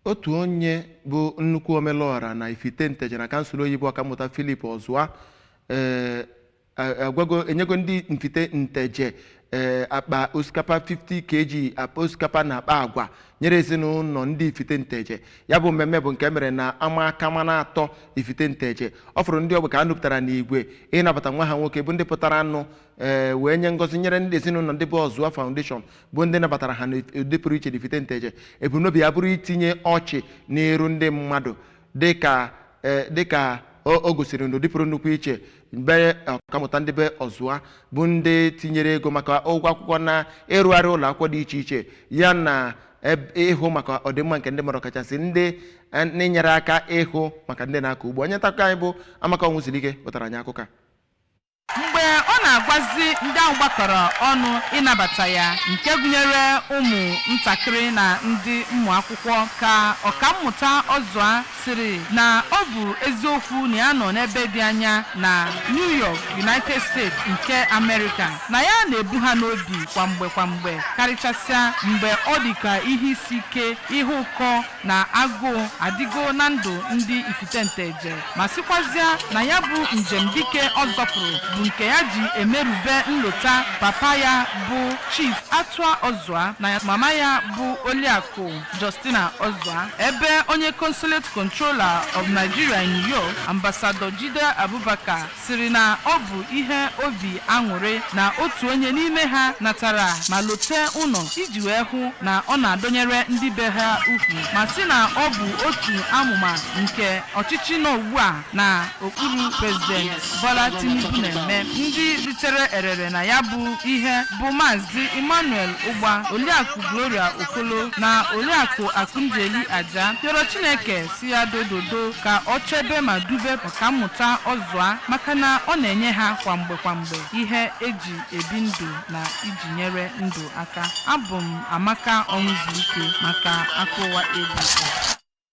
otu onye bụ nnukwu omelụọra na ifite nteje na kansụl Oyi bụ ọkammụta Philip Ọzụa ee, a- agwago enyego ndị ifite nteje ee, akpa osikapa 50 kg akpa osikapa na akpa agwa nyere ezinụlọ ndị ifite nteje ya bụ mmemme bụ nke mere na ama akamanatọ ifite nteje ọ fụrụ ndị ogbe ka a nupụtara n'igwe ịnabata nwa ha nwoke bụ ndị pụtaranụ ee, wee nye ngọzi nyere ndị ezinụlọ ndị bụ Ọzụa Foundation bụ ndị nabatara ha n'ụdị pụrụ iche n'ifite nteje ebumnobi ya bụrụ itinye ọchị n'iru ndị mmadụ dịka eh, dịka o o gosiri n'ụdị pụrụ nnukwu iche mgbe ọkammụta ndị be ọzụa bụ ndị tinyere ego maka ụgwọ akwụkwọ na ịrụgharị ụlọ akwụkwọ dị iche iche ya na eb- ịhụ maka ọdịmma nke ndị mmadụ kachasị ndị eh, n'inyere aka ịhụ maka ndị na-akọ ugbo onye ntakụkọ anyị bụ amaka ọnwụzulike wetara anyị akụkọ a Mgbe ọ na-agwazi ndị ahụ gbakọrọ ọnụ ịnabata ya nke gụnyere ụmụ ntakịrị na ndị ụmụ akwụkwọ ka Ọkammụta Ọzụa sịrị na ọ bụ eziokwu na ya nọ n'ebe dị anya na New York, United States nke Amerịka, na ya na-ebu ha n'obi kwa mgbe kwa mgbe karịchasịa mgbe ọ dị ka ihe isi ike, ihe ụkọ na agụụ adịgo na ndụ ndị ifite nteje ma sịkwazịa na ya bụ njem dike ọ zọpụrụ bụ nke ya ji emerube nlota papa ya bụ chief atụa ọzụa na mama ya bụ oliakụ justina ọzụa ebe onye consulate controller of nigeria in new york ambassador jidda abubakar sịrị na ọ bụ ihe obi aṅụrị na otu onye n'ime ha natara ma lote ụlọ iji wee hụ na ọ na-adọnyere ndị be ha ukwu ma sị na ọ bụ otu amụma nke ọchịchị nọ ugbu a na okpuru prezident Bola Tinubu na-eme ndị ritere erere na ya bụ ihe bụ maazị Emmanuel Ụgba Oliakụ Gloria Okolo na Oliakụ Akụnjeli Aja rịọrọ Chineke sị ya dododo ka ọ chebe ma dube kammụta ọzụa maka na ọ na-enye ha kwa mgbe kwa mgbe ihe e ji ebi ndụ na iji nyere ndụ aka abụ m amaka ọnwụzulike maka akụkọ ụwa ABS